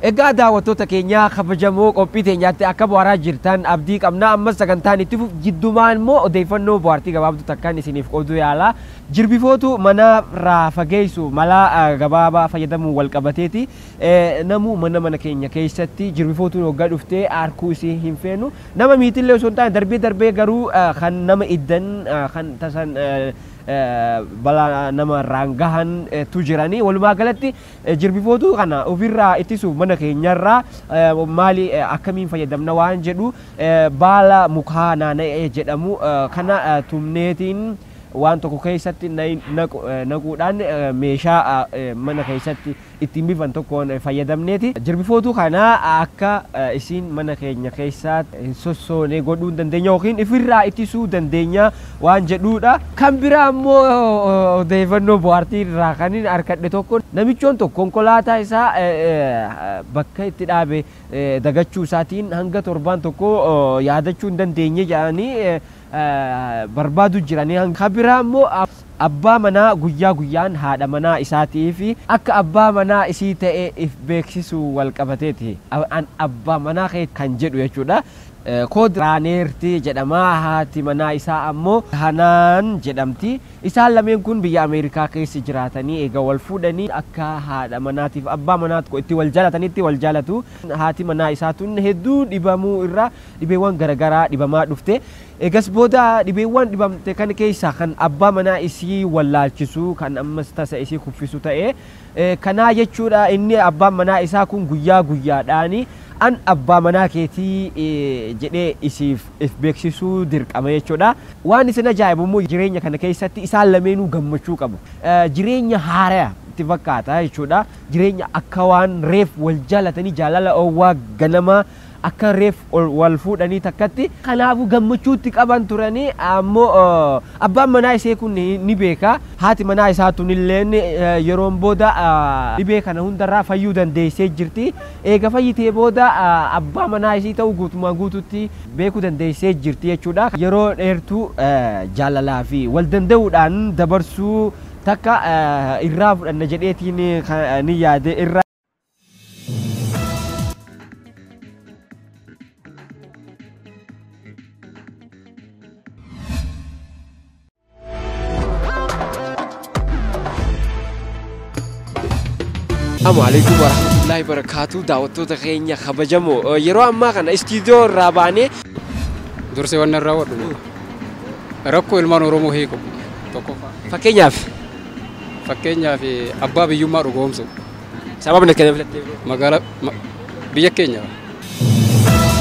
Egaa daawwattoota keenyaa kabajamoo qophii teenyaatti akka bu'aaraa jirtan abdii qabna ammas sagantaan itti fufu jiddumaan immoo odeeffannoo bu'aartii gabaabduu takkaan isiniif qooduu yaala jirbifootu mana irraa fageessu mala eh, gabaabaa fayyadamuun wal qabateeti Eh, namuu mana mana keenya keessatti jirbifootuun hoggaa dhuftee arkuu isii hin feenu nama miitillee osoo hin taane darbee darbee garuu eh, kan nama iddan eh, kan tasan eh, balaa nama irraan gahan tu jiranii walumaa galatti jirbifootuu kana ofirraa ittisuuf mana keenyarraa maali akkamiin fayyadamna waan jedhu baala mukaa naana'ee jedhamu kana tumneetiin waan tokko keessatti naquudhaan meeshaa mana keessatti ittiin bifan tokkoon fayyadamneeti jirbifootuu kana akka isiin mana keenya keessaa hin sossoone godhuu hin dandeenya yookiin ifirraa ittisuu dandeenya waan jedhuudha. Kan biraa immoo odeeffannoo bohaartii irraa kanin arkadhe tokko namichoon tokko konkolaataa isaa bakka itti dhaabe dagachuu isaatiin hanga torbaan tokkoo yaadachuu hin dandeenye jedhanii barbaadu jiranii ka biraa immoo abbaa manaa guyyaa guyyaan haadha manaa isaatiif akka abbaa manaa isii ta'e if beeksisuu wal qabateeti an abbaa manaa keeti kan jedhu jechuudha kood raaneerti jedhama haati manaa isaa ammoo hanaan jedhamti isaan lameen kun biyya ameerikaa keessa jiraatanii eega wal fuudhanii akka haadha manaatiif abbaa manaatko itti wal jaalatanitti wal jaalatu haati manaa isaa tun hedduu dhibamuu irraa dhibeewwan garagaraa dhibamaa dhufte. Eegas booda dhibeewwan dhibamte kan keessaa kan abbaa manaa isii wallaalchisu kan ammas tasa isii kuffisu ta'e. Kanaa jechuudha inni abbaan manaa isaa kun guyyaa guyyaadhaan an abbaa manaa keetii jedhee isiif if beeksisuu dirqama jechuudha. Waan isin ajaa'ibu immoo jireenya kana keessatti isaan lameenuu gammachuu qabu. Jireenya haaraya itti fakkaata jechuudha. Jireenya akka waan reef wal jaalatanii jaalala oowwaa ganamaa. Akka reef ol wal fuudhanii takkatti. Kanaafuu gammachuutti qaban turani. Ammo abbaan manaa isee kun ni beeka. Haati manaa isaa tunilleen yeroon booda dhibee kana hundarraa fayyuu dandeessee jirti. Eega fayyitee booda abbaa manaa isii ta'uu guutumaan guututti beekuu dandeessee jirti jechuudha. Yeroo dheertuu jaalalaa fi wal danda'uudhaan dabarsuu takka irraa fudhanna jedheetiin kanin yaade irra. Assalamu alaikum warahmatullahi wabarakatuh daawwattoota keenya kabajamoo yeroo ammaa kana istiidiyoo irraa baanee dursee waan irraa wadhu rakkoo ilmaan oromoo hiiku tokkoffaa fakkeenyaaf Fakkeenyaaf abbaa biyyummaa dhugoomsuu. Sababni ati kana filattee bro? Magaala ma, biyya keenya.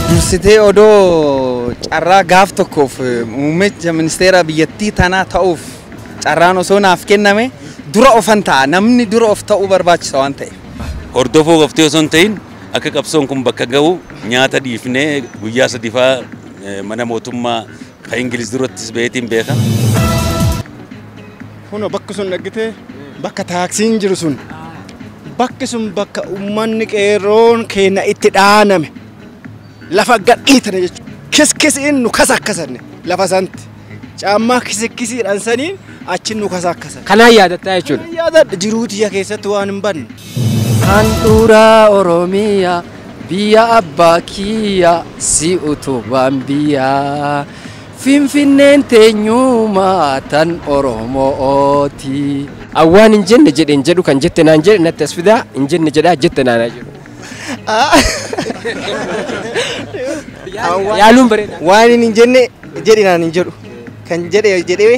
Dursitee odoo carraa gaaf tokkoof muummicha ministeera biyyattii tanaa ta'uuf carraan osoo naaf kenname dura ofan ta'a. Namni dura of ta'uu barbaachisa waan ta'eef. Hordofuu qoftee osoo hin ta'in akka qabsoon kun bakka gahu nyaata dhiifnee guyyaa sadifaa mana mootummaa Ka Ingiliz durattis baheetiin beeka. Kunoo bakki sun dhaggitee bakka taaksiin jiru sun bakki sun bakka uummanni qeerroon keenya itti dhaaname lafa gadhiitane jechuudha. Kiskisiin nu kasakkasanne lafa santi. Caammaa kisikkisiidhaan saniin achi nu kasakkasan. Kanaan yaadattaa jechuudha. Yaadadha jiruu tiyya keessatti waan hin banne. Handhuuraa Oromiyaa Biyya abbaa kiyyaa si utubaan biyyaa Finfinneen teenyumaa tan Oromo'ooti. Awwaan hin jenne jedhe hin jedhu kan jette naan jedhe natti as fidaa hin jenne jedhaa jette naan haa jedhu. Yaaluun bareeda. Waan hin jenne jedhe naan hin jedhu kan jedhe jedhee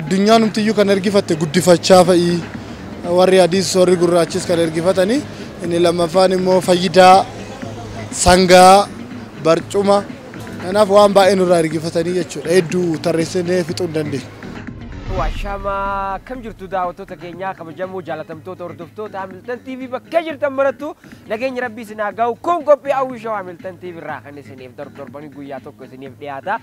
addunyaanumtiyyuu kan ergifatte guddifachaa fa'i warri adiis warri gurraachis kan ergifatanii inni lammaffaan immoo fayyidaa sangaa barcuma kanaaf waan baay'ee nurraa ergifatanii jechuudha hedduu tarreessinee fixuu hin dandeenye. Waashama akkam jirtu daawwattoota keenyaa kabajamoo jaalatamtoota hordoftoota Hamilton TV bakkee jirtan marattu nageenyi rabbii isin haa gahu kun qophii hawwii shawaa Hamilton TV irraa kan isiniif darbu torbanii guyyaa tokko isiniif dhiyaata